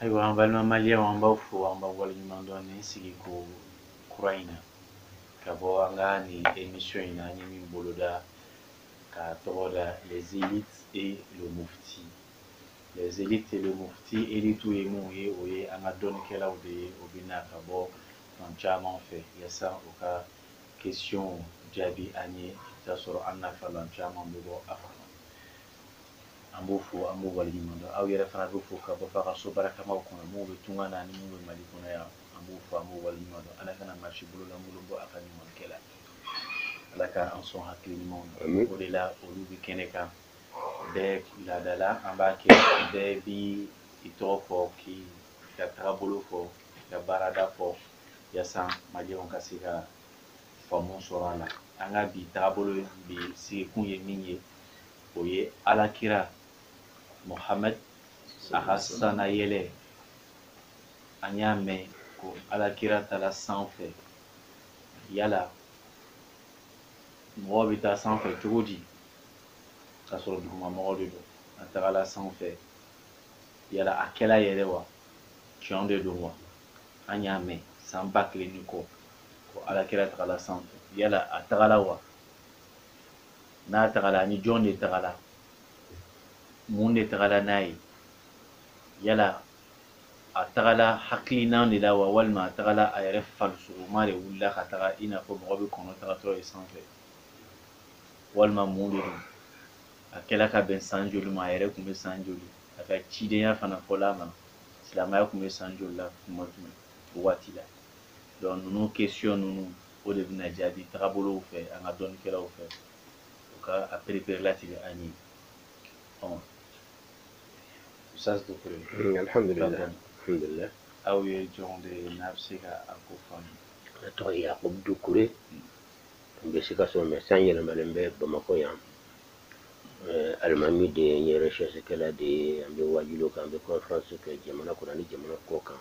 ayiwa an balima maliyɛnw an b'aw fo an b'aw waleɲuman dɔn nin sigi ko kura in na ka bɔ an ka nin emission in na an ye min boloda k'a tɔgɔ da les élites et le mufti les élites et le mufti élitiw ye minnu ye o ye an ka dɔnnikɛlaw de ye o bɛ na ka bɔ fan caman fɛ yasa u ka question jaabi an ye i bɛ t'a sɔrɔ an nafalan caman bɛ bɔ a kɔnɔ an b'o fo an b'o waleɲuman dɔn aw yɛrɛ fana bɛ fo ka bɔ f'aw ka so barikamaw kɔnɔ minnu bɛ tunga na ani minnu bɛ mali kɔnɔ yan an b'o fo an b'o waleɲuman dɔn ala kana maa si bololankolon bɔ a ka ɲumankɛ la ala ka an sɔn hakili ɲumanw na o de la olu bɛ kɛnɛ kan bɛɛ laada la an b'a kɛ bɛɛ bi i tɔgɔ fɔ k'i ka tagabolo fɔ ka baarada fɔ yasa maliyɛnw ka se ka faamu sɔrɔ a la an ka bi tagabolo bi sigikun ye min ye o ye alakira mohamɛd a ka sanayɛlɛ an y'a mɛn ko alakira tagala sanfɛ yala mɔgɔ bɛ taa sanfɛ cogo di k'a sɔrɔ duguma mɔgɔ de don a tagala sanfɛ yala a kɛla yɛrɛ wa tiɲɛ de don wa an y'a mɛn san ba kelen ni kɔ ko alakira tagala sanfɛ yala a tagala wa n'a tagala ani jɔn de tagala mun de tagala n'a ye yala a tagala hakilina de la wa walima a tagala a yɛrɛ farisogoma de wulila ka taga i n'a fɔ mɔgɔ bɛ kɔnɔ tagatɔ ye sanfɛ walima mun de don a kɛla ka bɛn san joli ma a yɛrɛ tun bɛ san joli a ka cidenya fana fɔla a ma silamɛya tun bɛ san joli la tuma jumɛn o waati la donc ninnu question ninnu o de bɛna jaabi tagabolow fɛ an ka dɔnnikɛlaw fɛ u ka a perepere latigɛ an ye ɔn usitazi dukure alhamdulilayi aw ye jɔn de ye n'an bɛ se ka a ko faamu ne tɔgɔ ye yakubu dukure n bɛ sikaso mais sisan yɛlɛmalen bɛ bamakɔ yan eh, alimami de ye n ye recherchekɛla de ye an bɛ wajuli kɛ an bɛ conférence kɛ jamana kɔnɔ ani jamana kɔkan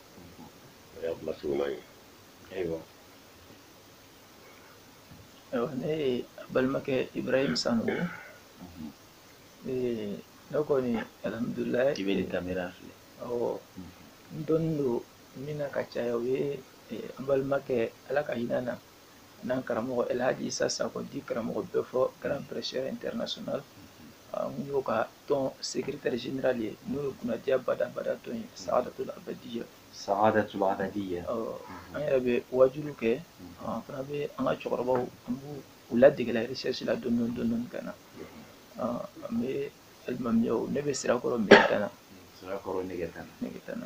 o y'a kuma surunman ye ayiwa ayiwa ne ye aw balimakɛ ibrahim sango mhm. eh, ne kɔni alhamdulilayi i bɛ nin kamera filɛ awɔ mhm. n dɔnnen don min na ka caya o ye eh, an balimakɛ ala ka hinɛ a na n'an karamɔgɔ Elhaji Isa Sako dit Karamɔgɔ Bɛfɔ grand prêcheur international n y'o ka tɔn secrétaire général ye n'o ye kunnadiya badabada tɔn ye saadatul abadiya saadatul abadiya an yɛrɛ bɛ wajuliw kɛ an fana bɛ an ka cɛkɔrɔbaw an b'u ladegela recherche la dɔɔni dɔɔni dɔɔni ka na an bɛ alimamiyaw ne bɛ Sirakɔrɔ Mɛgɛtana Sirakɔrɔ Mɛgɛtana Mɛgɛtana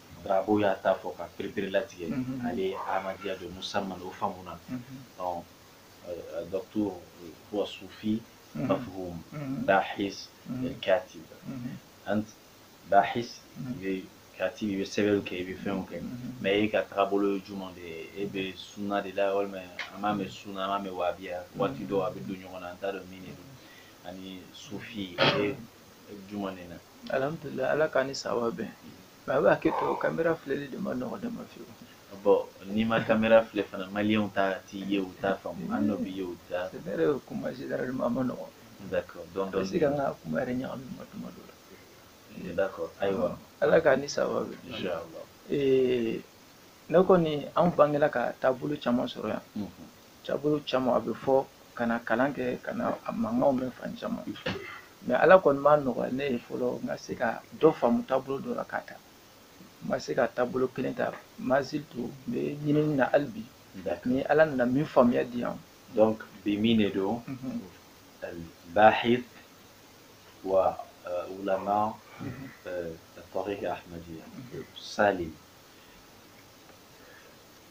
Darabo y'a ta fɔ ka perepere-latigɛ ale ye Ahmadiya don Musa n'o faamuna dɔ sufi ba fɔ da kati an da kati i bɛ sɛbɛn kɛ i bɛ fɛn kɛ mais e ka taabolo jumɛn de ye e bɛ sunna de la walima an b'a mɛn sunna an bɛ wahabiya waati dɔ a bɛ don ɲɔgɔn na an t'a dɔn min ani sufi juma nin na alhamdulilayi ala k'an ni sababu bɛn mais a' bɛ hakɛ to kamera filɛli de man nɔgɔ ne ma fewu bon n'i ma kamera filɛ fana maliyɛnw ta t'i ye u t'a faamu an dɔ b'i ye u t'a c'est vrai o kuma généralement a man nɔgɔ d'accord donc donc se ka n ka kuma yɛrɛ ɲagami ma tuma dɔ la eh, d'accord ayiwa ala k'an ni sababu bɛn inchallah eh, ne kɔni an bangela ka taabolo caman sɔrɔ yan mhm. Taabolo caman a bɛ fɔ ka na kalan kɛ ka na a mankanw mɛn fan caman mais ala kɔni m'a nɔgɔya ne ye fɔlɔ n ka se ka dɔ faamu taabolo dɔ la k'a ta n ma se ka taabolo kelen ta mais surtout n bɛ ɲinini na hali bi ni ala nana min faamuya di yan donc n b'o minɛ donc bahis wa wulama tɔgɔ kɛ ahadi sa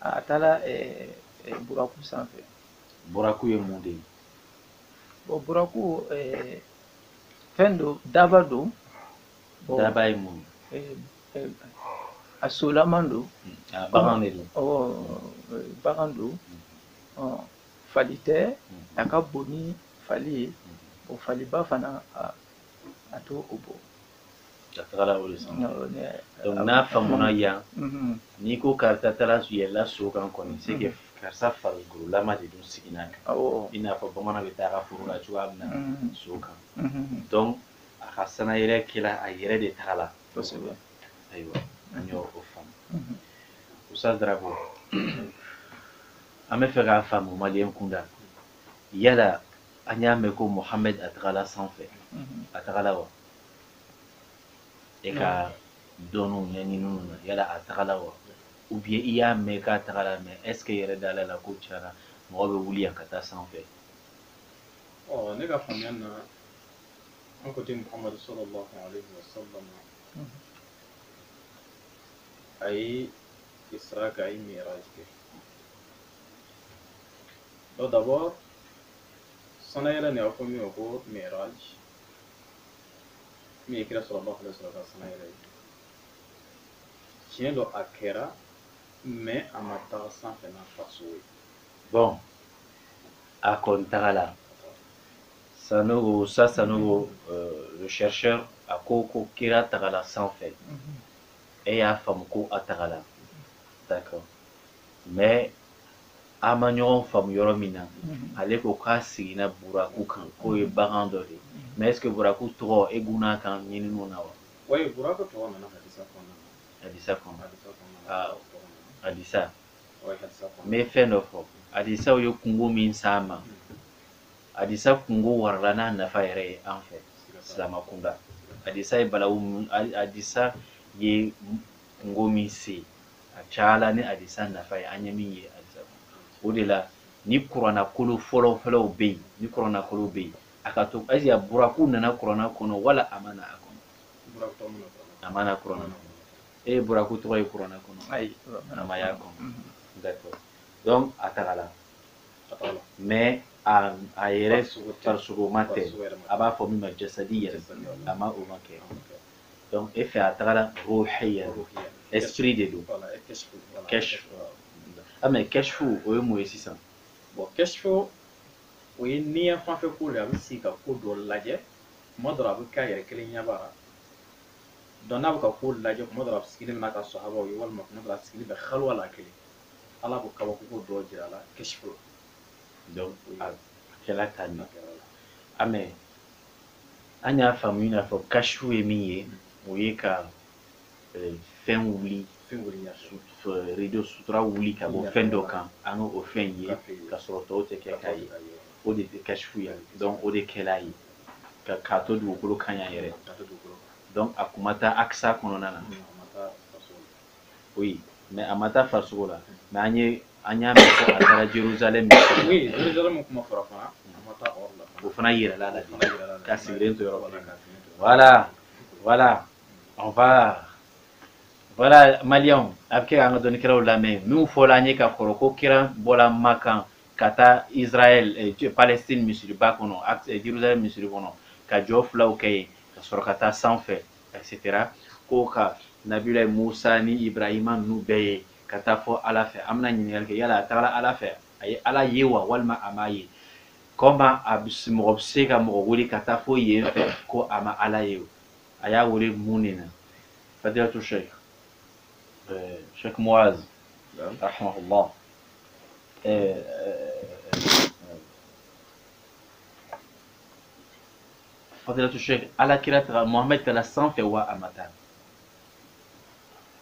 a taara buraku sanfɛ buraku ye mun de ye bon buraku fɛn don daba don daba ye mun a solama don hmm, bagan de don bagan don hmm. fali tɛ hmm. a ka bon ni fali ye bon faliba fana a t'o bɔ ka tagala o de san donc n'a faamuna yan n'i ko karisa taara yɛlɛla so kan kɔni c'est que karisa farikolo de tun sigilen a kan i n'a fɔ bamanan bɛ taa a ka foro la cogoya min na so kan donc a ka sanayɛlɛ kɛra a yɛrɛ de tagala kosɛbɛ ayiwa an y'o faamu Musa Darabo an bɛ fɛ k'a faamu maliyɛn kunda yala an y'a mɛn ko Mohamed a tagala sanfɛ a tagala wa e ka dɔnniw ɲɛɲiniw na yala a tagala wa ou bien i y'a mɛn k'a tagala mais est-ce que e yɛrɛ dala a la ko can na mɔgɔ bɛ wuli yan ka taa sanfɛ ne ka faamuya na an ko ten muhamadu sallallahu alaihi wa sallam a ye isra kɛ a ye miraj kɛ donc d'abord sanayɛlɛ nin a fɔ min ma ko miraj min ye kira sɔrɔba fana sɔrɔ ka sanga yɛrɛ ye tiɲɛ don a kɛra mais a ma taga sanfɛ n'a farisogo ye bɔn a kɔni tagala sanogo sa sanogo euh, le chercheur a ko ko kira tagala sanfɛ mhm. e y'a faamu ko a tagala d'accord mais A ma ɲɔgɔn faamu yɔrɔ min na ale ko k'a sigila buraku kan k'o ye bagan dɔ de ye mais est-ce que buraku tɔgɔ e gunna kan ɲininiw na wa buraku tɔgɔ nana hadisa kɔnɔna na hadisa kɔnɔ hadisa n bɛ fɛn dɔ fɔ hadisaw ye kunko min s'an ma hadisa kunko warala n'a nafa yɛrɛ ye an fɛ silamɛ kunda hadisa ye balawu hadisa ye kunko min se a cayala ni hadisa nafa ye an ye min ye hadisa o de la ni kuranakolo fɔlɔfɔlɔw bɛ yen ni kuranakolo bɛ yen a ka to ayisa buraku nana kurana kɔnɔ wala a ma na a kɔnɔ a ma na kurana kɔnɔ e ye buraku tɔgɔ ye kurana kɔnɔ ayi a ma y'a kɔnɔ d'accord donc a tagala mais a a yɛrɛ farisogoma tɛ a b'a fɔ min ma jasadi yɛrɛ a ma o ma kɛ donc e fɛ a tagara ruhiya esprit de don kashifu ah mais kashifu o ye mun ye sisan bɔn kashifu o ye niya fanfɛ ko de a bɛ sigi ka ko dɔ lajɛ kuma dɔ la a bɛ kɛ a yɛrɛ kelenyaba la donc n'a bɛ ka ko lajɛ kuma dɔ la a sigilen bɛ n'a ka sahabaw ye walima kuma dɔ la a sigilen bɛ haliwa la kelen ala b'o kabakoko dɔ jira a la kashifu la donc a kɛla ka ɲɛ a mɛ an y'a faamu i n'a fɔ kashifu ye min ye o ye ka eh, fɛn wuli rideau sutura wuli ka bɔ fɛn dɔ kan an ka o fɛn ye ka sɔrɔ tɔw tɛ kɛ k'a ye o de tɛ kashifu ye donc o de kɛla a ye k'a to dugukolo kan yan yɛrɛ donc a kun ma taa akisa kɔnɔna na oui mais a ma taa farisogo la mais an ye an y'a mɛn ko a taara jerusalem oui jerusalem kuma fɔra fana a ma taa yɔrɔ si la o fana yirala a la k'a sigilen to yɔrɔ kelen voilà voilà on va voilà maliyɛnw a bɛ kɛ k'an ka dɔnnikɛlaw lamɛn minnu fɔla an ye ka kɔrɔ ko kira bɔla makan ka taa israɛl eh, palestine misiriba kɔnɔ eh, jerusalem misiri kɔnɔ ka jɔ filaw kɛ yen ka sɔrɔ ka taa sanfɛ etc ko ka nabilayi musa ni ibrahima ninnu bɛɛ ye ka taa fo ala fɛ an bɛna ɲininkali kɛ yala a tagara ala fɛ a ye ala ye wa walima a m'a ye comment mɔgɔ bɛ se ka mɔgɔ wele ka taa fo yen fɛ ko a ma ala ye a y'a wele mun de na fadilatu sheikh sheikh muaz rahimahullah fadilatu sheikh ala kira taga mohamɛd taara sanfɛ wa a ma taa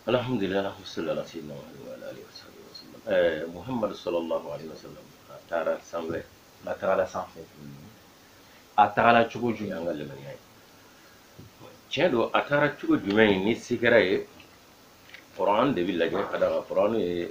alhamdulilayi wasalaam ala sayyidina muhammad wa ala alihi wa sahbihi wa sallam ɛɛ muhammad sallallahu alaihi wa sallam a taara sanfɛ a tagala sanfɛ a tagala cogo jumɛn an ka limaniya ye tiɲɛ don a taara cogo jumɛn ye ni se kɛra ye kuran de bɛ lajɛ ka d'a kan kuran ye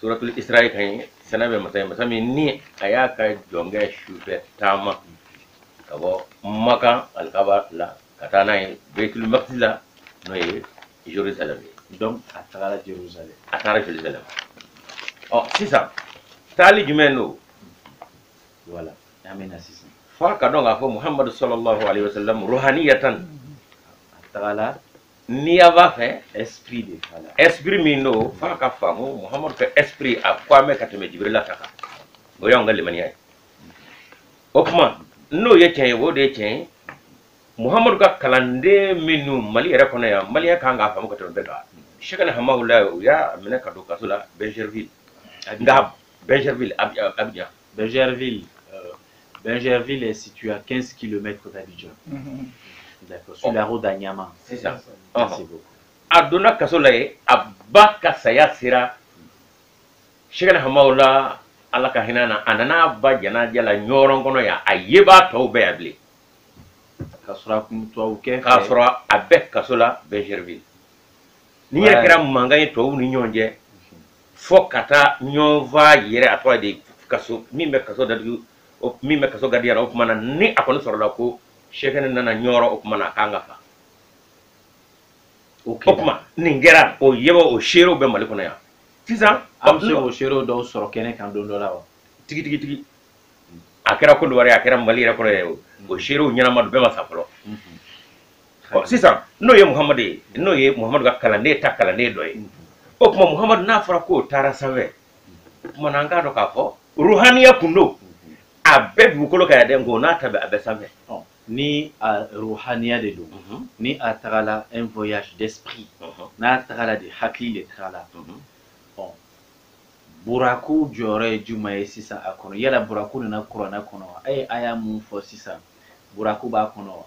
suratul isra'i kan ye saniya bɛ masa ye masa min ni a y'a ka jɔnkɛ sufɛ taama ka bɔ makan alikaba la ka taa n'a ye betul makidisi la n'o ye jerusalem ye donc a tagara jerusalem a taara jerusalem ɔ sisan taali jumɛn don voilà an bɛ na sisan f'an k'a dɔn k'a fɔ muhamadu sallallahu alayhi wa sallam ruhaniyatan a tagara n'i y'a b'a fɛ esprit de b'a la esprit min don f'an k'a faamu muhamadu ka esprit a ka bon ka tɛmɛ jibirila ta kan o y'anw ka limaniya ye o tuma n'o ye tiɲɛ ye o de ye tiɲɛ ye muhamadu ka kalanden minnu mali yɛrɛ kɔnɔ yan maliyɛn ka kan k'a faamu ka tɛmɛ bɛɛ kan shekina hamawula u y'a minɛ ka don kaso la bingerville nka bingerville abidjan Bingerville, euh, est situé à 15 km d'Abidjan. Mm -hmm. D'accord, sur oh. la route d'Anyama. C'est ça. ça. Merci oh. beaucoup. A donna kaso la yen a ba ka saya sera Shekina Hamawula ala ka hinɛ a na a nana a ba janaja la Ɲɔrɔn kɔnɔ yan a yebaa tɔw bɛ yan bilen k'a sɔrɔ a kun tubabu kɛ k'a sɔrɔ a bɛ kaso la Bingerville nin yɛrɛ kɛra mankan ye tubabuw ni ɲɔgɔn cɛ fo ka taa ɲɔgɔn faa yɛrɛ a tɔgɔ de kaso min bɛ kaso datugu min bɛ kaso gadiya la o tuma na ni a kɔni sɔrɔla ko shekina nana ɲɔrɔn o tuma na a ka kan ka faa o tuma nin kɛra o yebaa o seerew bɛ mali kɔnɔ yan sisan a bɛ se o seerew dɔw sɔrɔ kɛnɛ kan don dɔ la wa tigi tigi tigi a kɛra kɔdiwari a kɛra mali yɛrɛ kɔnɔ yɛrɛ o seerew ɲɛnama don bɛɛ ma sa fɔlɔ ɔ sisan n'o ye muhamadu ye n'o ye muhamadu ka kalanden ta kalanden dɔ ye o tuma muhamadu n'a fɔra k'o taara sanfɛ o tuma na an k'a dɔn k'a fɔ ruhaniya kun don a bɛ dugukolo kan yan dɛ nk'o n'a ta bɛɛ a bɛ sanfɛ ni a ruhaniya de don mhm. ni a tagala un voyage d'esprit mhm. n'a tagala de hakili de tagala mhm. ɔ buraku jɔyɔrɔ ye jumɛn ye sisan a kɔnɔ yala buraku nana kuranɛ kɔnɔ wa a ye aya min fɔ sisan buraku b'a kɔnɔ wa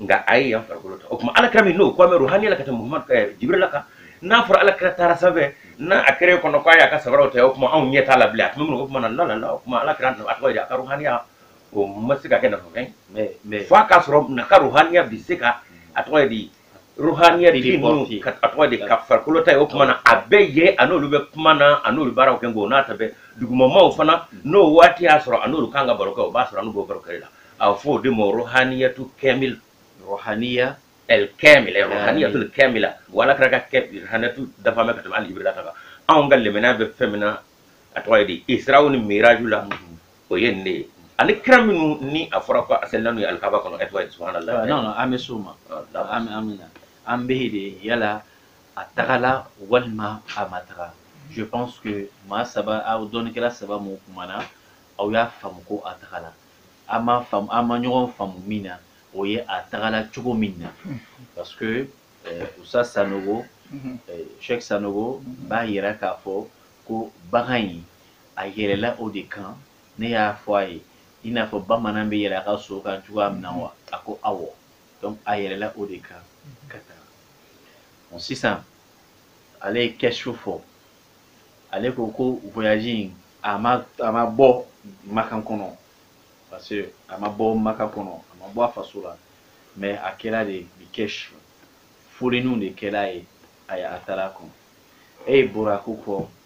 nka a ye yan farikolo ta o tuma alakira min n'o kɔmɛ ruhaniya la ka tɛmɛ muhamadu ka eh, jibirila kan n'a fɔra alakira taara sanfɛ n'a a kɛra kɔnɔ k'a y'a ka sabaraw ta o tuma anw ɲɛ t'a la bilen a tun bɛ minɛ o tuma na lalala o tuma alakira a tɔgɔ ye a ka ruhaniya o ma se ka kɛ nafafɛn ye f'a k'a sɔrɔ n'a ka ruhaniya bi se ka a tɔgɔ ye di ruhaniya di n'u ka a tɔgɔ de ka farikolo ta ye o tuma na a bɛ yen a n'olu bɛ kuma na a n'olu baro kɛ o n'a ta bɛɛ dugumamaw fana n'o waati y'a sɔrɔ a n'olu ka kan ka baro kɛ o b'a sɔrɔ a n'u b'o baro kɛ la a bɛ fɔ o de ma ruhaniyatu kamil ruhaniya el kamil ruhaniyatu kamila wala kɛra ka kɛ ruhaniyatu dafa bɛ ka tɛmɛ hali jibirila kan anw ka limaniya bɛ fɛn min na a tɔgɔ ye di israw ni miraju la o ye nin de ye ani kira minnu ni a fɔra ko a salila n'u ye alikaba kɔnɔ ɛtwa subahana la non non an bɛ s'o ma an bɛ an bɛ na an bɛ yen de yala a tagala walima a ma taga je pense que maa saba aw dɔnnikɛla saba min kumana aw y'a faamu ko a tagala an ma faamu an ma ɲɔgɔn faamu min na o ye a tagala cogo min na parce que euh, ustaz sanogo cheikh sanogo b'a yira k'a fɔ ko bagan in A yɛlɛla o de kan, ne y'a fɔ a ye i n'a fɔ bamanan bɛ yɛlɛn a ka so kan cogoya min na wa? A ko awɔ. Donc a yɛlɛla o de kan ka taga. Bon sisan ale ye kashf fɔ, ale ko ko voyage in a ma a ma bɔ Makan kɔnɔ parce que a ma bɔ Makan kɔnɔ, a ma bɔ a faso la mais a kɛra de bi kashf. Filɛliw de kɛra a ye a taara kɔnɔ. E ye Buraku fɔ.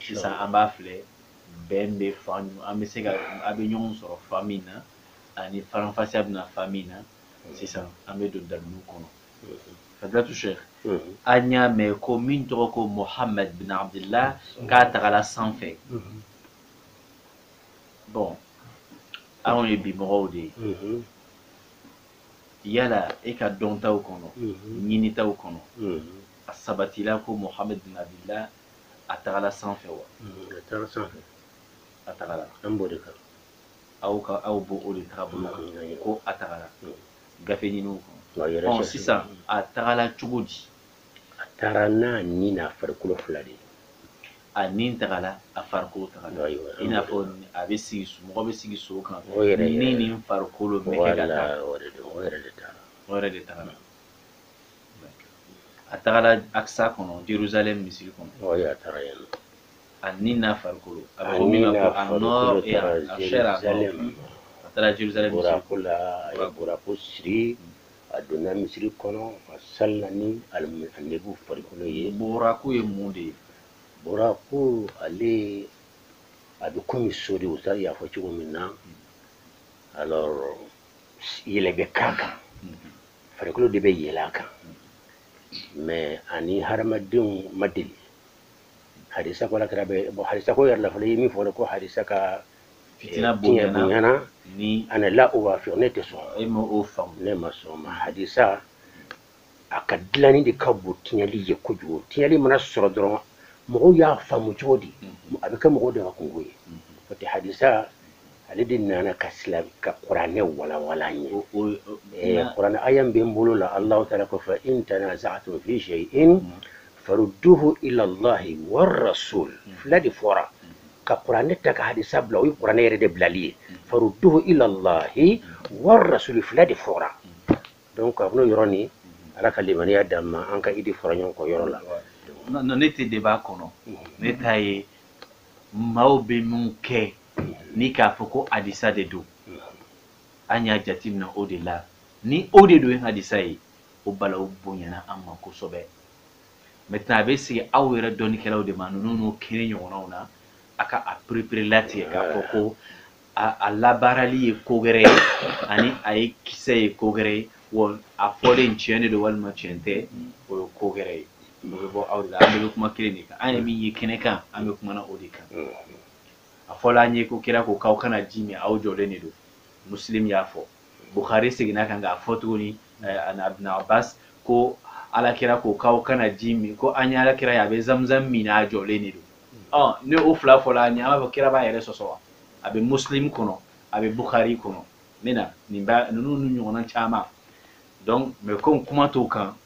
sisan an b'a filɛ bɛn bɛ fan an bɛ se ka aw bɛ ɲɔgɔn sɔrɔ fan min na ani faranfasiya bɛ na fan min na sisan an bɛ don dalilu kɔnɔ fadilatu cheikh an y'a mɛn ko min tɔgɔ ko mohamɛd bin abdillah k'a tagala sanfɛ bon anw ye bimɔgɔw de ye yala e ka dɔntaw kɔnɔ ɲinitaw kɔnɔ a sabatila ko mohamɛd bin abdillah a tagala sanfɛ wa a taara sanfɛ a tagala an b'o de kan aw ka aw b'o o de tagabolo kan Mm. ko a tagala Mm. gafe ninnu kɔnɔ wa yɛrɛ ɔ sɛ- sisan a tagala cogo di a taara n'a ni n'a farikolo fila de ye a nin tagala a farikolo tagala Ayiwa, i n'a fɔ a bɛ sigi so- mɔgɔ bɛ sigi so kan o yɛrɛ ni yɛrɛ nin farikolo bɛ kɛ ka taa wala o de don o yɛrɛ de taara o yɛrɛ de tagala a tagala akisa kɔnɔ jerusalem misiri kɔnɔ Oui, a taara yen nɔ. a ni n'a farikolo a bɛ fɔ min ma ko a nɔ e a a sɛ a nɔ a taara jerusalem misiri Burako la, a ye burako siri, a donna misiri kɔnɔ, a salila ni alimi- annabiw farikolo ye. burako ye mun de ye Burako, ale, a bɛ komi so de, u t'a y'a fɔ cogo min na. Alors, yɛlɛ bɛ k'a kan. farikolo de bɛ yɛlɛ a kan mais ani hadamadenw ma deli hadisa ko alakira bɛ bɔ hadisa ko yɛrɛ la fana ye min fɔ ko hadisa ka fitina eh, bonyana ni ana la o b'a fɛ ne tɛ sɔn e ma o faamu ne ma sɔn ma hadisa a ka dilanni de ka bon tiɲɛli ye kojugu tiɲɛli mana sɔrɔ dɔrɔn mɔgɔw y'a faamu cogo di mm-hmm. a bɛ kɛ mɔgɔw de ka kunko ye mm-hmm. n'o tɛ hadisa ale de nana ka sila ka kuranɛ walawala an ye eh, kuranɛ aya min bɛ n bolo la alahu taala ko fa in tanaza'tum fi shay'in mm. farudduhu ila allahi warrasul mm. fila de fɔra mm. ka kuranɛ ta ka hadisa bila o ye kuranɛ yɛrɛ de bilali ye farudduhu ila allahi warrasul fila de fɔra donc a bɛn'o yɔrɔ nin ala ka limaniya d'an ma an ka idée fɔra ɲɔgɔn kɔ yɔrɔ la ne ta de b'a kɔnɔ ne ta ye maaw bɛ min kɛ ni k'a fɔ ko hadisa de don an y'a jateminɛ o de la ni o de don ye hadisa ye o balawu bonyana an ma kosɛbɛ maintenant a bɛ segin aw yɛrɛ dɔnnikɛlaw de ma ninnu nin kɛnɛ ɲɔgɔnnaw na a ka a pereperelatigɛ k'a fɔ ko a labaarali ye ko wɛrɛ ye ani a ye kisɛ ye ko wɛrɛ ye wa a fɔlen tiɲɛ de don walima tiɲɛ tɛ o ye ko wɛrɛ ye o bɛ bɔ aw de la an bɛɛ bɛ kuma kelen de kan an yɛrɛ min ye kɛnɛ kan an bɛ kumana o de kan a fɔla an ye ko kira ko k'aw kana ji min aw jɔlen de don muslim y'a fɔ bukhari seginn'a kan k'a fɔ tuguni ani ibn abbas ko alakira ko k'aw kana ji min ko an ye alakira ye a bɛ zamzam min a jɔlen de don ɔ ni o fila fɔla an ye an b'a fɔ kira b'a yɛrɛ sɔsɔ wa a bɛ muslim kɔnɔ a bɛ bukhari kɔnɔ n bɛ na nin ba ninnu ni ɲɔgɔnna caman donc mais komi kuma t'o kan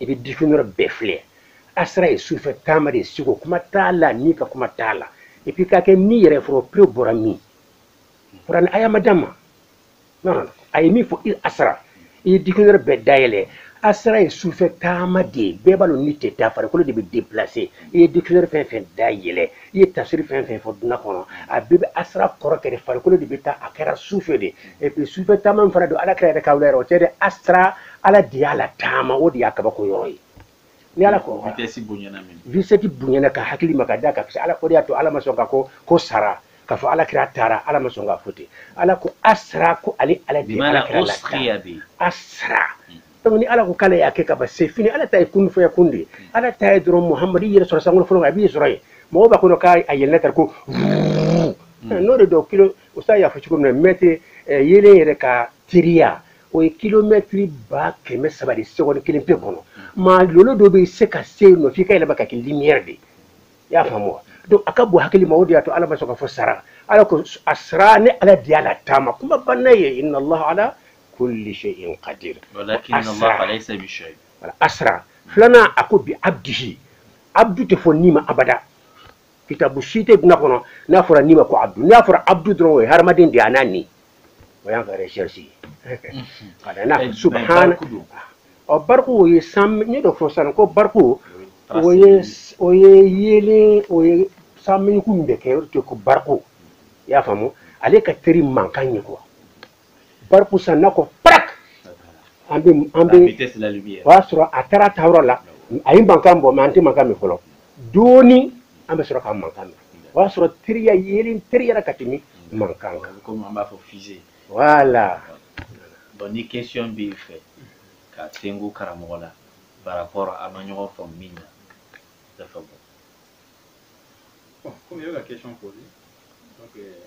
i bɛ dictionnaire bɛɛ filɛ asra ye sufɛ taama de ye siko kuma t'a la ni ka kuma t'a la et puis ka kɛ ni yɛrɛ fɔlɔ preuve bɔra min kuranɛ aya ma d'a ma a ye min fɔ i asra i ye dictionnaire bɛɛ dayɛlɛ asra ye sufɛ taama de ye bɛɛ b'a dɔn ni tɛ taa farikolo de bɛ déplacer i ye dictionnaire fɛn fɛn dayɛlɛ i ye tafsiri fɛn fɛn fɔ duniya kɔnɔ a bɛɛ bɛ asra kɔrɔ kɛ de farikolo de bɛ taa a kɛra sufɛ de et puis sufɛ taama min fana don ala kira yɛrɛ ka wuli yɛrɛ o tɛ dɛ asra ala de y'a la taama o de y'a kabako yɔrɔ ye ni ala ko vitesse bonyana min vitesse bonyana ka hakili ma ka da ka parce ala ko de y'a to ala ma sɔn k'a fɔ ko sara k'a fɔ ala kira taara ala ma sɔn k'a fɔ ten ala ko asra ko ale ala de ala kira la asra mm-hmm. donc ni ala ko k'ale y'a kɛ ka ban c'est fini ala ta ye kun fayakun de ye ala ta ye dɔrɔn muhamadi yɛrɛ sɔrɔ sankolo fɔlɔ a b'i sɔrɔ yen mɔgɔw b'a kɔnɔ k'a a yɛlɛnna tari ko n'o de dɔn kilo o sa y'a fɔ cogo min na mɛtiri yeelen yɛrɛ ka teriya o ye kilomɛtiri ba kɛmɛ saba de seconde kelen pe kɔnɔ maa lolo dɔ bɛ se ka se yen nɔ f'i ka yɛlɛma ka kɛ lumière de ye i y'a faamu wa donc a ka bon hakili ma o de y'a to ala ma sɔn ka fɔ sara ala ko asra ni ala de y'a la taama kuma banna yen inna allah ala kulli shay'in qadir walakin Allah laysa bi shay asra filanan a ko bi abdihi abdu tɛ fɔ ni ma abada kitabu si tɛ duniya kɔnɔ n'a fɔra ni ma ko abdu n'a fɔra abdu dɔrɔn o ye hadamaden de ye a n'a ni o y'an ka recherche ye ka da n'a subahana ɔ bariku o ye san n ye dɔ fɔ sisan ko bariku o ye o ye yeelen o ye san mɛɲɛku min bɛ kɛ o de ko bariku i y'a faamu ale ka teri mankan ye quoi bariku san n'a ko parak an bɛ an bɛ o y'a sɔrɔ a taara taayɔrɔ la a ye mankan bɔ mais an tɛ mankan mɛn fɔlɔ dɔɔnin an bɛ sɔrɔ ka mankan mɛn o y'a sɔrɔ teriya yeelen teriyara ka tɛmɛ mankan kan komi an b'a fɔ fize voilà donc ni question b'i fɛ ka sengu karamɔgɔ la par rapport aw ma ɲɔgɔn faamu min na dafa bɔ bon komi i bɛ ka question poser donc euh,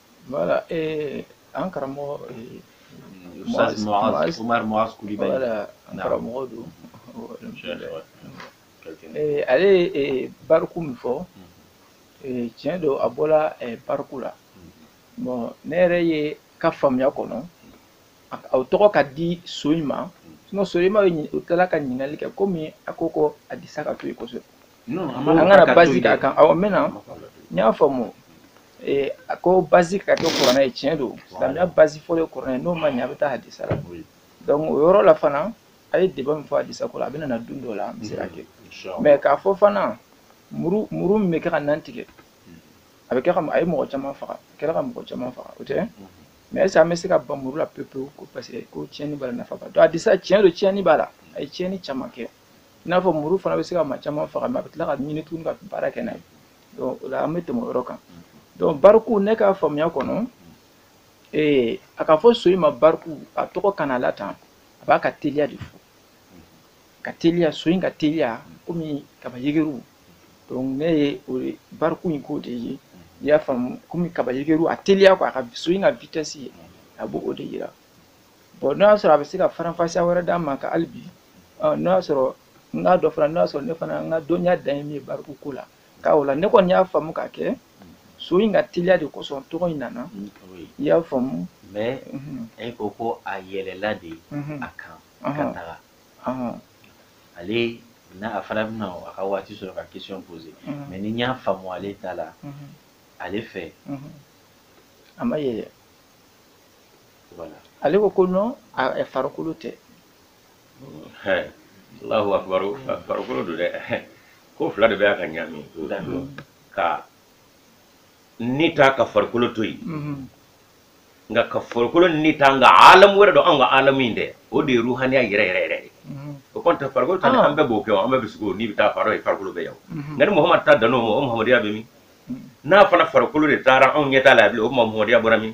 Voilà, et an karamɔgɔ Umar Muaz Kulibali. Voilà, an karamɔgɔ don. Ale ye bariku min fɔ, tiɲɛ don a bɔla bariku la. Bon ne yɛrɛ ye ka faamuya kɔnɔ, o tɔgɔ ka di so in ma, sinon so in ma, u tilala ka ɲininkali kɛ komi a ko ko hadisa ka to yen kosɛbɛ. an kana basigi a kan awɔ n bɛna n y'a faamu eh, a ko base ka kɛ kuranɛ ye tiɲɛ don silamɛya base fɔlɔ ye kuranɛ n'o ma ɲɛ a bɛ taa hadisa la donc o yɔrɔ la fana a ye débat min fɔ hadisa ko la a bɛna na don dɔ la an bɛ se ka kɛ mais k'a fɔ fana muru muru min bɛ kɛ ka nan tigɛ a bɛ kɛ ka a ye mɔgɔ caman faga a kɛra ka mɔgɔ caman faga o tɛ mais est ce que an bɛ se ka ban muru la pewu pewu ko parce que ko tiɲɛni b'a la nafa b'a la donc hadisa tiɲɛ don tiɲɛni b'a la a ye tiɲɛni caman kɛ i n'a fɔ muru fana bɛ se ka maa caman faga mais a bɛ tila k'a minɛ tuguni ka baara kɛ n'a ye donc o la an bɛ tɛmɛ o yɔrɔ kan donc bariku ne ka faamuya kɔnɔ ee a k'a fɔ so in ma bariku a tɔgɔ kana la tan a b'a ka teliya de fɔ ka teliya so in ka teliya komi kaba yegeru donc ne ye o ye bariku in kɔrɔ de ye i y'a faamu komi kaba yegeru a teliya quoi a ka so in ka vitesse a b'o o de yira bɔn n'o y'a sɔrɔ a bɛ se ka faranfasiya wɛrɛ d'a ma ka hali bi n'o y'a sɔrɔ n k'a dɔ fana n'o y'a sɔrɔ ne fana n ka dɔnniya dan ye min ye bariku ko la k'a o la ne kɔni y'a faamu k'a kɛ so in ka teliya de kosɔn tɔgɔ in nana i y'a faamu mais e ko ko a yɛlɛla de a kan ka taga ale n'a a fana bɛna a ka waati sɔrɔ ka question poser mais ni n y'a faamu ale ta la ale fɛ a ma yɛlɛ ale ko ko non farikolo tɛ alahu akubaru farikolo don dɛ ko fila de bɛ yan ka ɲaami ka ni ta ka farikolo to yen mhm. nka ka farikolo ni ta nka alamu wɛrɛ don anw ka alamu in dɛ o de ye ruhaniya yɛrɛ yɛrɛ yɛrɛ ye mhm. o kɔni tɛ farikolo ta ah. an bɛɛ b'o kɛ an bɛɛ bɛ sugo ni bɛ taa farikolo ye farikolo bɛ yan mhm. nka ni muhamadu ta dan'o ma o muhamadiya bɛ min n'a fana farikolo de taara anw ɲɛ t'a la bilen o tuma muhamadiya bɔra min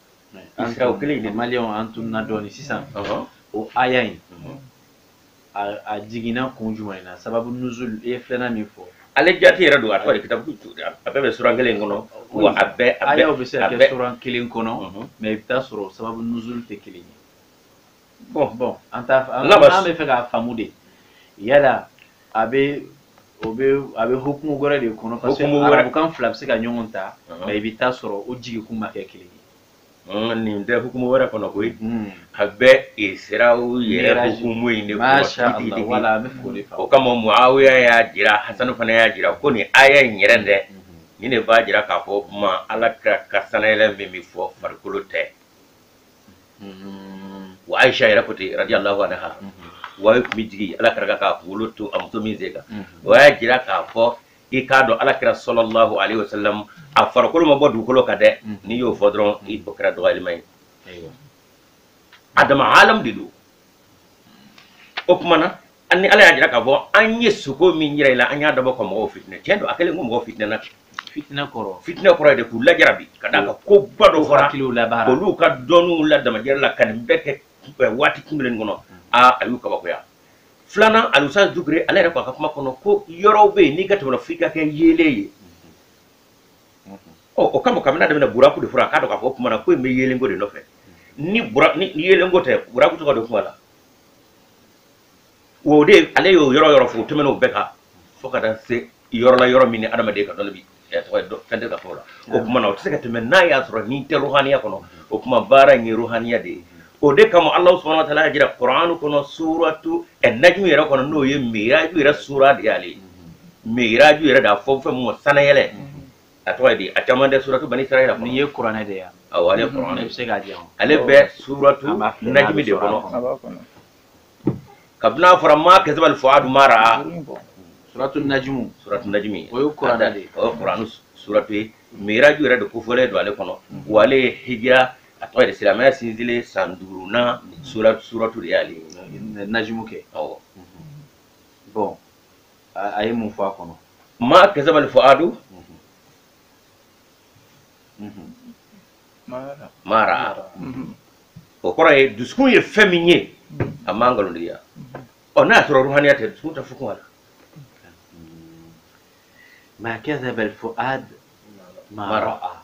an ka o kelen de maliyɛnw an tununa dɔɔni sisan o aya in a jiginna kun jumɛn na sababu nuzuli ye filanan min fɔ ale jati yɛrɛ don a tɔgɔ de kitabu a bɛɛ bɛ suran kelen kɔnɔ wa a bɛɛ a bɛɛ bɛ se ka kɛ suran kelen kɔnɔ mais i bɛ t'a sɔrɔ sababu nuzul tɛ kelen ye bɔn bɔn an t'a an an b'a fɛ k'a faamu de yala a bɛ o bɛ a bɛ hukumu wɛrɛ de kɔnɔ parce que arabukan fila bɛ se ka ɲɔgɔn ta mais i bɛ t'a sɔrɔ o jigikun ma kɛ kelen ye nin tɛ hukumu wɛrɛ kɔnɔ koyi a bɛ isirau yɛrɛ hukumu in de kɔnɔ o kama muawiya y'a jira hasanu fana y'a jira ko nin aya in yɛrɛ dɛ nin de b'a jira k'a fɔ ma ala kira ka sanayɛlɛ min bɛ fɔ farikolo tɛ mm-hmm. wa aisha yɛrɛ ko ten radiyallahu anha mm-hmm. wahayu kun bɛ jigin ala kira kan k'a kunkolo to a muso min sen kan mm-hmm. o y'a jira k'a fɔ i k'a dɔn ala kira sɔlɔlahu alayhi wa sallam a farikolo ma bɔ dugukolo kan dɛ n'i y'o fɔ dɔrɔn i bɔ kɛra dɔgɔyalima ye adama alam de don o kumana ani ala y'a jira k'a fɔ an ye sugo min jira i la an y'a dabɔ ka mɔgɔw fitinɛ tiɲɛ don a kɛlen ko mɔgɔw fitinɛna fitinɛ kɔrɔ fitinɛ kɔrɔ de k'u lajarabi ka d'a kan koba dɔ fɔra olu ka dɔnniw la damajira la ka nin bɛɛ kɛ eh, waati kunbɛlen kɔnɔ aa a y'u kabakoya filanan alusa dukure ale yɛrɛ k'a ka kuma kɔnɔ ko yɔrɔw bɛ yen n'i ka tɛmɛna f'i ka kɛ yeelen ye ɔ o kama kabini a daminɛ buraku de fɔra k'a dɔn k'a fɔ o tuma na ko in bɛ yeelenko de nɔfɛ ni yeelenko tɛ buraku tɔgɔ tɛ kuma la o de ale y'o yɔrɔ yɔrɔ fo tɛmɛn o bɛɛ kan fo ka taa se yɔrɔ la yɔrɔ min ni adamaden ka dɔnni bi fɛn tɛ ka fɔ la o kuma na o tɛ se ka tɛmɛ n'a y'a sɔrɔ nin tɛ ruhaniya kɔnɔ o kuma baara in ye ruhaniya de ye o de kama ala subhana wa taala y'a jira kuranu kɔnɔ suratu najmu yɛrɛ kɔnɔ n'o ye miraju yɛrɛ sura de y'ale ye miraju yɛrɛ de a fɔ fɛn min ma sanayɛlɛ a tɔgɔ di a caman tɛ suratu bani israila n'i ye kuranɛ de yan awɔ ale kuranɛ i bɛ se k'a di yan ale bɛ suratu najimi de kɔnɔ kabini a fɔra maa kazabal fuadu maa raa suratu najimu suratu najimi o ye kuranɛ de ye o ye kuranu suratu ye miraju yɛrɛ de kofɔlen don ale kɔnɔ wa ale ye hijira a tɔgɔ de silamɛya sinsinlen san duurunan suratu de y'ale ye najimu kɛ awɔ bɔn a ye mun fɔ a kɔnɔ maa kazabal fuadu maa raa o kɔrɔ ye dusukun ye fɛn min ye a ma nkalontigiya ɔ n'a y'a sɔrɔ ruhaniya tɛ dusukun tɛ fɔ ko la maa kazabal fuadu maa raa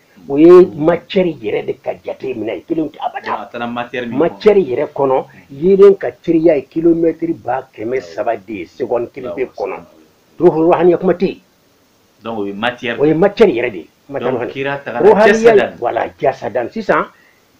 o ye macɛri yɛrɛ de ka jate minɛ ye kelen tɛ abada macɛri yɛrɛ kɔnɔ yeelen ka teriya ye kilomɛtiri ba kɛmɛ saba de ye segɔni kelen pe kɔnɔ ruhaniya kuma tɛ yen o ye macɛri yɛrɛ de ye ruhaniya wala jasadan sisan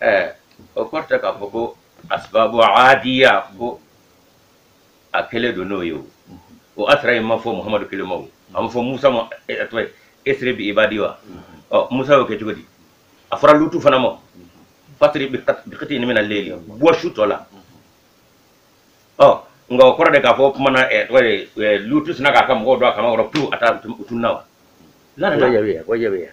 ɛɛ o kɔrɔ tɛ k'a fɔ ko asibabu adiya ko a kelen don n'o ye o o asira in ma fɔ muhamadu kelen ma o a ma fɔ musa ma ɛ, ɛ, tɔgɔ ye asri bi ibadi wa ɔ musa y'o kɛ cogo di a fɔra lutu fana ma fa asri bikitini mina layli bɔ su tɔ la ɔ nka o kɔrɔ tɛ k'a fɔ kuma na ɛ, tɔgɔ ye ɛ, lutu sinna k'a ka mɔgɔw don a kaman kɔrɔ pewu a taa u tununna wa la la la Wajabiya, wajabiya.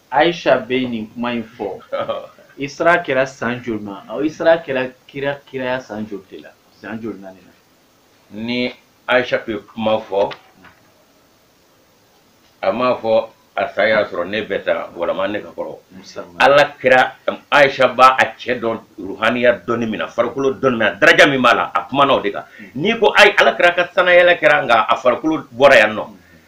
Aisha bɛ nin kuma in fɔ Isra kɛra san joli ma Isra kɛra kira kiraya san joli de la san joli na nin na ni Aisha bɛ kuma fɔ a m'a fɔ a san y'a sɔrɔ ne bɛ tan walama ne ka kɔrɔ Ala kira Aisha b'a a cɛ dɔn ruhaniya dɔnni min na farikolo dɔnni min na daraja min b'a la a kumana o de kan n'i ko ayi Ala kira ka sanayɛlɛ kɛra nka a farikolo bɔra yan nɔ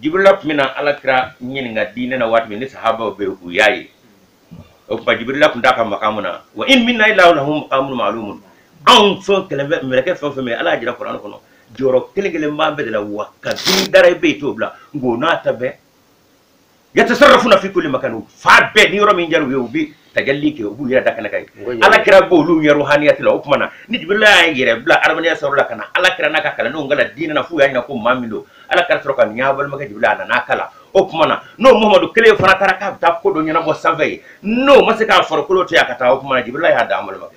jibirila tun bɛ na ala kira ɲininka diinɛ na waati min ni sahabaw bɛ u y'a ye o tuma jibirila tun t'a ka makamu na wa in minna illa lahu makamun ma'lumun anw fɛn kelen bɛɛ mɛlɛkɛ fɛn o fɛn bɛ ala y'a jira kuran kɔnɔ jɔyɔrɔ kelen kelen b'an bɛɛ de la wa kabini i dara i bɛ yen i t'o bila nka o n'a ta bɛɛ yatasarrafuna fi kulli makan fan bɛɛ ni yɔrɔ min diyara u ye u bɛ tajalli kɛ u b'u yɛrɛ da kɛnɛ kan ala kira b'olu ɲɛ ruhaniyati la o tuma na ni jibirila y'a yɛrɛ bila adamadenya sawura la ka na ala kira n'a ka kalandenw kalan diinɛ na f'u y'a ɲina ko maa min don ala kira sɔrɔ ko nin y'aw balimakɛ jibirila a nan'aw kalan o tuma na n'o muhamadu kelen fana taara k'a bɛ taa ko dɔ ɲɛnabɔ sanfɛ yen n'o ma se k'a farikolo to yan a ka taa o tuma na jibirila y'a dan n balimakɛ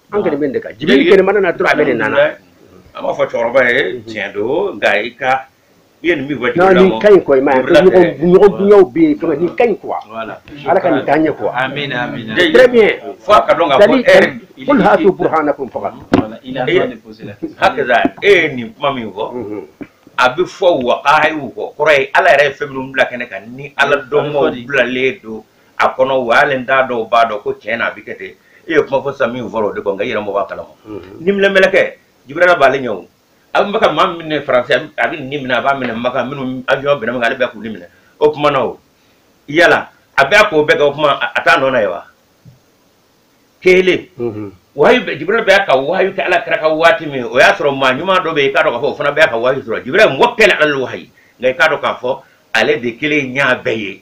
an kɛlɛ bɛ de kan jibiri kelen mana na dɔrɔn a bɛɛ de nana an b'a fɔ cɛkɔrɔba ye tiɲɛ don nka i ka i ye nin min fɔ jibiri la nin ka ɲi kɔ i ma ɲɔgɔn dunyaw bɛ yen fɛn nin ka ɲi quoi ala ka nin taa ɲɛ quoi très bien fo a ka dɔn ka fɔ e yɛrɛ qul hatu burhanakum faga hakɛza e ye nin kuma min fɔ a bɛ fɔ waqahiw kɔ kɔrɔ ye ala yɛrɛ ye fɛn minnu bila kɛnɛ kan ni ala dɔnbaaw bilalen don a kɔnɔ o y'ale da dɔw b'a dɔn ko tiɲɛ na a bɛ kɛ ten e ye kuma fɔ sisan min fɔra o de kɔn nka i yɛrɛ mɔgɔ b'a kalama niminɛ mɛlɛkɛ jibirila b'ale ɲɛ o a bɛ ka maa ni minɛ faransi a bɛ ni minɛ a b'a minɛ maka minnu avion bɛnna min ale bɛ k'u ni minɛ o kuma na o yala a bɛ a k'o bɛɛ kɛ o kuma a t'a nɔ na ye wa kelen wahayu bɛ jibirila bɛ ka wahayu kɛ ala kira ka waati min o y'a sɔrɔ maa ɲuman dɔ bɛ yen i k'a dɔn k'a fɔ o fana bɛ ka wahayu sɔrɔ jibirila mɔgɔ kelen na wahayu nka i k'a dɔn k'a fɔ ale de kelen y'a bɛɛ ye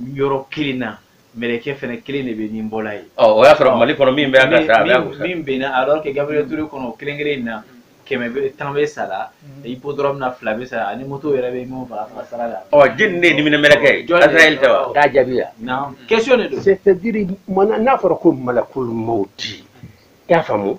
yɔrɔ kelen na mɛlɛkɛ fana kelen de bɛ ni bɔla ye ɔ o y'a sɔrɔ mali kɔnɔ min bɛ yan ka sa a bɛ yan kusa min bɛnna alors que Gabriel Toure kɔnɔ o kelen kelen in na kɛmɛ bɛ tan bɛ sala hippodrome na fila bɛ sala ani moto yɛrɛ bɛ minnu faga faga sira la ɔ jɔni de ye niminɛ mɛlɛkɛ ye Azrael tɛ wa k'a jaabi yan non question de don c'est à dire mana n'a fɔra ko malakul mawti i y'a faamu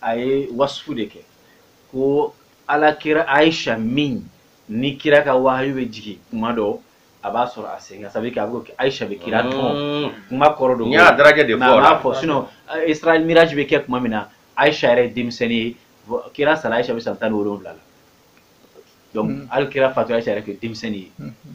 a ye wasufu de kɛ ko ala kira aisha min ni kira ka wahayu bɛ jigin kuma dɔ a b'a sɔrɔ a sen ka sabu kɛ a bɛ aisha bɛ kira tɔn mm. kuma kɔrɔ don y'a daraka de fɔ a b'a fɔ sinɔn isra wal miraj bɛ kɛ kuma min na aisha yɛrɛ ye denmisɛnnin ye kira sara aisha bɛ san tan ni wolonwula la donc mm. hali kira fatu aisha yɛrɛ tun ye denmisɛnnin ye mm-hmm.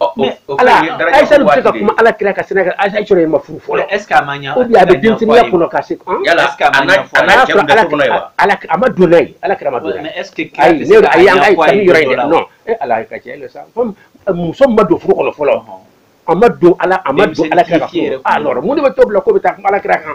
ayisa bɛ se ka kuma ala kira ka sɛnɛ a y'a sɔrɔ a ma furu fɔlɔ a bɛ denmisɛnninya kɔnɔ ka se a ma don ye ala kira ma don ayi ne ayi an ka kanu yɔrɔ in dɛ e ala ka cɛ sa muso ma don furu kɔnɔ fɔlɔ a ma don ala a ma don ala kira ka mun de b'a to bila ko bɛ taa kuma ala kira kan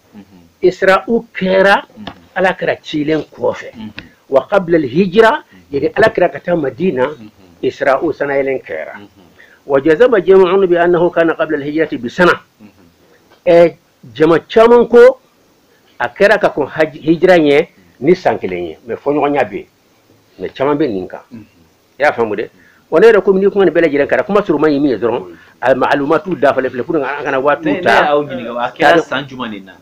isra'u kɛra ala kira cilen kɔfɛ wa qabla hijira yani ala kira ka taa madina isra'u san na yɛlɛn kɛra wa jazama jama'un bi annahu kana qabla alhijrati bi sana ɛ jama caman ko a kɛra ka kɔn hijira ɲɛ ni san kelen ye mais fɔɲɔgɔnya bɛ yen mais caman bɛ nin kan i y'a faamu dɛ wa ne yɛrɛ komi ni kuma nin bɛɛ lajɛlen kɛra kuma suruman ye min ye dɔrɔn a maalumatu dafalen filɛ pour que an kana waatiw ne ta ne y'aw ɲininka a kɛra san jumɛn de na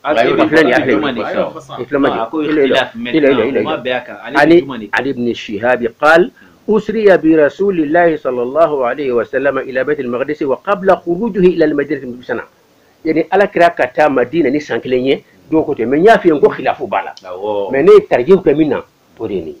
Aw Ayi, filɛ filɛ nin ye, a filɛ nin ye. jumɛn de kan? I filɛ ma Ah, a ko jɔ. Ila ila. ikhtilaf mɛnna, Ila ila ila. o ma bɛn a kan. Ale ani ni jumɛn de kan? an ibn shihab qal usriya bi rasulillahi sallallahu alayhi wa sallam ila bayt al-maqdis wa qabla khurujihi ila al-madinah bi sana yani ala kira ka taa madina ni san kelen ye don ko tɛ mais n y'a f'i ye n ko khilafu b'a la Awɔ. mais ne ye tarjih kɛ min na o de ye nin ye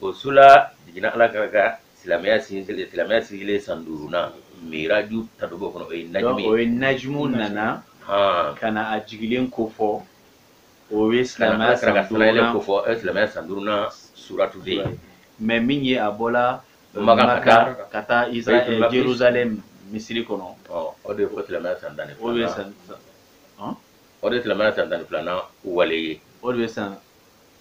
o sura jiginna ala kira ka silamɛya sigilen silamɛya sigilen san duurunan miraju ta de b'o kɔnɔ o ye najmu ye o ye najmu nana ka na a jigilen ko fɔ o ye silamɛya san duurunan ko fɔ silamɛya san duurunan suratu de ye mɛ min ye a bɔla maka ka taa israɛl jerusalem misiri kɔnɔ o de ye ko silamɛya san tan ni filanan o de ye silamɛya san tan ni filanan wale ye o de ye san